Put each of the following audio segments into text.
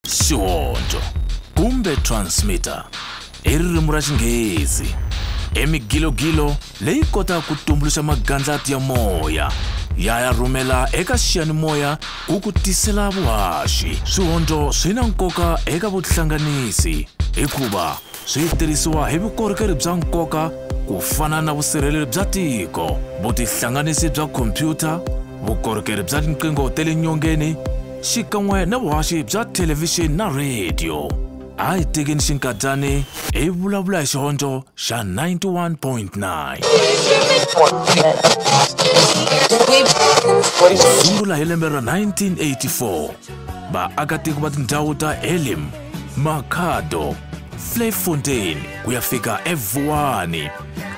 Xihoxo kumbe transmitter i ririmi ra Xinghezi, i migilogilo leyi kotaka ku tumbuluxa magandlati ya moya ya ya rhumela eka xiyanimoya ku ku tisela vuhaxi. Swihondzo swi na nkoka eka vuhlanganisi hikuva swi tirhisiwa hi vukorhokeri bya nkoka ku fana na vusirheleri bya tiko, vutihlanganisi bya khompyuta, vukorhokeri bya tinqingho ta le nyongeni xikan'we na vuhaxi bya thelevhixini na rhediyo a hi tekeni xinkadyani hi vulavula hi xihondzo xa 91.9 sungula hi lembe ra 1984 vaakatiko va tindhawu ta elim makhado flayfontein ku ya fika evuwani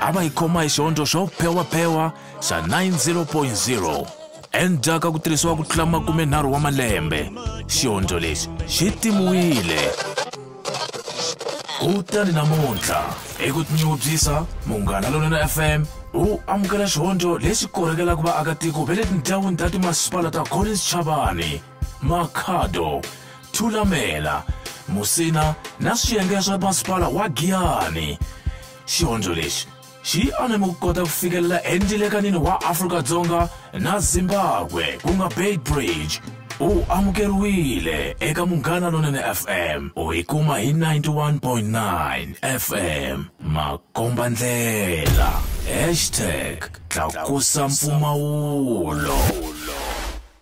a va yi khoma hi xihondzo xo phewaphewa xa 90.0 endzhaku ka ku tirhisiwa ku tlula makumenharhu wa malembe xiondzo lexi xi timiwile kutani namuntlha hi ku tinyungubyisa munghana lonene fm wu amukela xihondzo lexi korhekelaka vaakatiko va le tindhawini ta timasipala ta collins chavani makhado thulamela musina na swiyenge swa masipala wa giyani xihondzo lexi xi aname ku kota ku fikelela endilekanini wa afrika-dzonga na zimbabwe ku nga bay bridge u amukeriwile eka munghana lonene fm u yi kuma hi 91.9 fm makomba ndlela hashtag tlakusa mpfumawulo